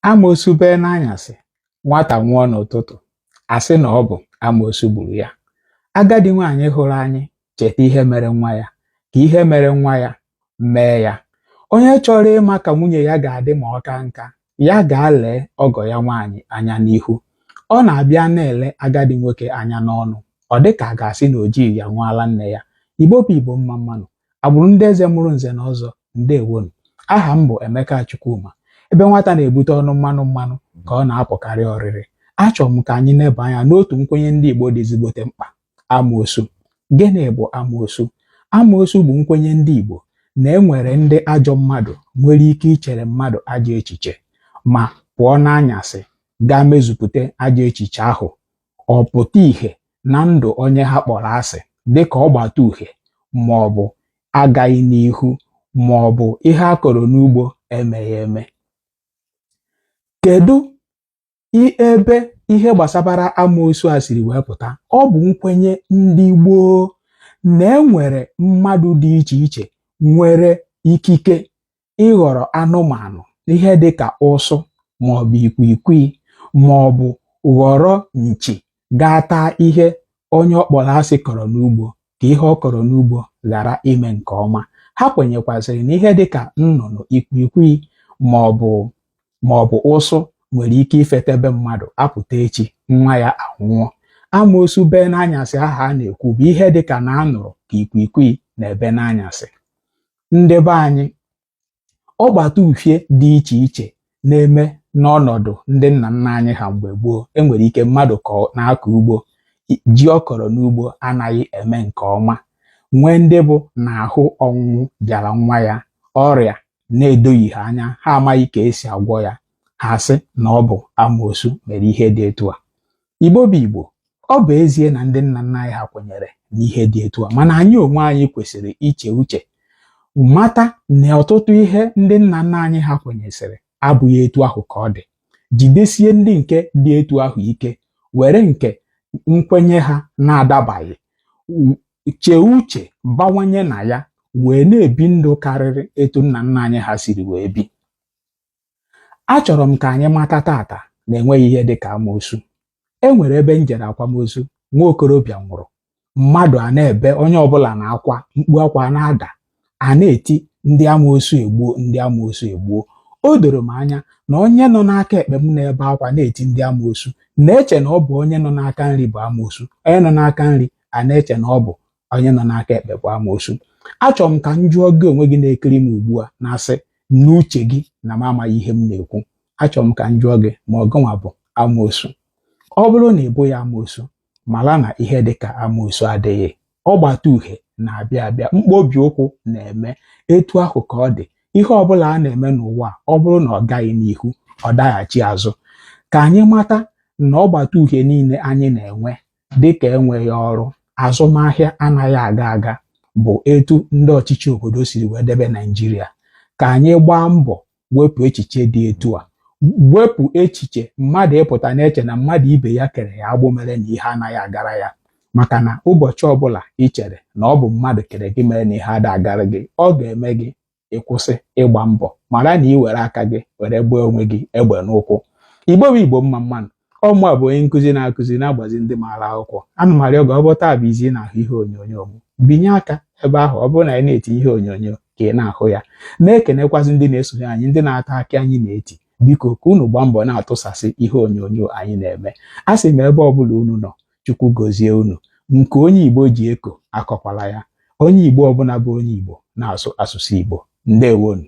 amoosu bee n'anyasị nwata nwụọ n'ụtụtụ a sị na ọ bụ amoosu gburu ya agadi nwaanyị hụrụ anyị cheta ihe mere nwa ya ka ihe mere nwa ya mee ya onye chọrọ ịma ka nwunye ya ga-adị ma ọ ka nka ya gaa lee ọgọ ya nwaanyị anya n'ihu ọ na-abịa na-ele agadi nwoke anya n'ọnụ ọ dị ka a ga-asị na o jighị ya ṅụọ ala nne ya igbo bụ igbo mma mma nụ agbụrụ ndị eze mụrụ nze na ọzọ ndewonu aha m bụ Emeka Chukwuma ebe nwata na-ebute ọnụ mmanụ mmanụ ka ọ na-apụkarị ọrịrị achọrọ m ka anyị neba anya n'otu nkwenye ndị Igbo dị ezigbote mkpa amoosu gịnị bụ amoosu amoosu bụ nkwenye ndị Igbo na e nwere ndị ajọ mmadụ nwere ike ichere mmadụ ajọ echiche ma pụọ n'anyasị gaa mezupụta ajọ echiche ahụ ọ pụta ìhè na ndụ onye ha kpọrọ asị dị ka ọgbata uhie ma ọ bụ agaghị n'ihu ma ọ bụ ihe a kọrọ n'ugbo emeghị eme. Kedu i- ebe ihe gbasabara amoosu a siri wee pụta? Ọ bụ nkwenye ndị gboo na e nwere mmadụ dị iche iche nwere ikike ịghọrọ anụmanụ ihe dị ka ụsụ maọbụ ikwikwii maọbụ ghọrọ nchi gaa taa ihe onye ọ kpọrọ asị kọrọ n'ugbo ka ihe ọ kọrọ n'ugbo ghara ime nke ọma ha kwenyekwazịrị na ihe dị ka nnụnụ ikwikwii maọbụ maọbụ ụsụ nwere ike ifeta be mmadụ a pụta echi nwa ya anwụọ amoosu bee n'anyasị ahụ a na-ekwu bụ ihe dị ka na a nụrụ ka ikwikwii na-ebe n'anyasị ndị be anyị ọgbata uhie dị iche iche na-eme n'ọnọdụ ndị nna nna anyị ha mgbe gboo e nwere ike mmadụ ka na-akọ ugbo ji ọ kọrọ n'ugbo anaghị eme nke ọma nwee ndị bụ na ahụ ọnwụnwụ bịara nwa ya ọrịa na-edoghị ha anya ha amaghị ka e si agwọ ya ha sị na ọ bụ amoosu mere ihe dị etu a Igbo bụ Igbo ọ bụ ezie na ndị nna nna anyị ha kwenyere n'ihe dị etu a mana anyị onwe anyị kwesịrị iche uche mata na ọtụtụ ihe ndị nna nna anyị ha kwenyesịrị abụghị etu ahụ ka ọ dị jidesie ndị nke dị etu ahụ ike were nke nkwenye ha na-adabaghị chee uche bawanye na ya wee na-ebi ndụ karịrị etu nna nna anyị ha siri wee bi achọrọ m ka anyị mata tata na enweghị ihe dị ka amoosu e nwere ebe m jere akwamozu nwa okorobịa nwụrụ mmadụ a na-ebe onye ọbụla na akwa mkpu akwa na-ada a na-eti ndị amoosu egbuo ndị amoosu egbuo o doro m anya na onye nọ n'aka ekpe m na-ebe akwa na-eti ndị amoosu na-eche na ọ bụ onye nọ n'aka nri bụ amoosu onye nọ n'aka nri a na-eche na ọ bụ onye nọ n'aka ekpe bụ amoosu achọrọ m ka m jụọ gị onwe gị na-ekiri m ugbu a na-asị n'uche gị na m amaghị ihe m na-ekwu achọrọ m ka m jụọ gị ma ọ gịnwa bụ amoosu ọ bụrụ na ị bụghị amoosu mara na ihe dị ka amoosu adịghị ọgbata uhie na-abịa abịa mkpobi ụkwụ na-eme etu ahụ ka ọ dị ihe ọbụla a na-eme n'ụwa ọ bụrụ na ọ gaghị n'ihu ọ daghachi azụ ka anyị mata na ọgbata uhie niile anyị na-enwe dịka enweghị ọrụ azụmahịa anaghị aga aga bụ etu ndị ọchịchị obodo siri wee debe Naijiria ka anyị gbaa mbọ wepụ echiche dị etu a wepụ echiche mmadụ ịpụta na-eche na mmadụ ibe ya kere ya agbụ mere na ihe anaghị agara ya maka na ụbọchị ọbụla i chere na ọ bụ mmadụ kere gị mere na ihe ada agara gị ọ ga-eme gị ịkwụsị ịgba mbọ mara na i were aka gị were gbaa onwe gị egbe n'ụkwụ igbo bụ igbo mma mma nụ ọ mụa bụ onye nkụzi na-akụzi na-agbazi ndị maara akwụkwọ ana m arịọ gị ọ bụ taa bụ izizi ị na-ahụ ihe onyonyo m binye aka ebe ahụ ọ bụrụ na anyị na-etinye ihe onyonyo ka ị na-ahụ ya na-ekenekwazị ndị na-esonye anyị ndị na-ata akị anyị na-eti biko ka unu gbaa mbọ na-atụsasị ihe onyonyo anyị na-eme asị m ebe ọ bụla unu nọ chukwu gozie unu nke onye igbo ji eko akọkwala ya onye igbo ọbụla bụ onye igbo na-asụ asụsụ igbo ndewonụ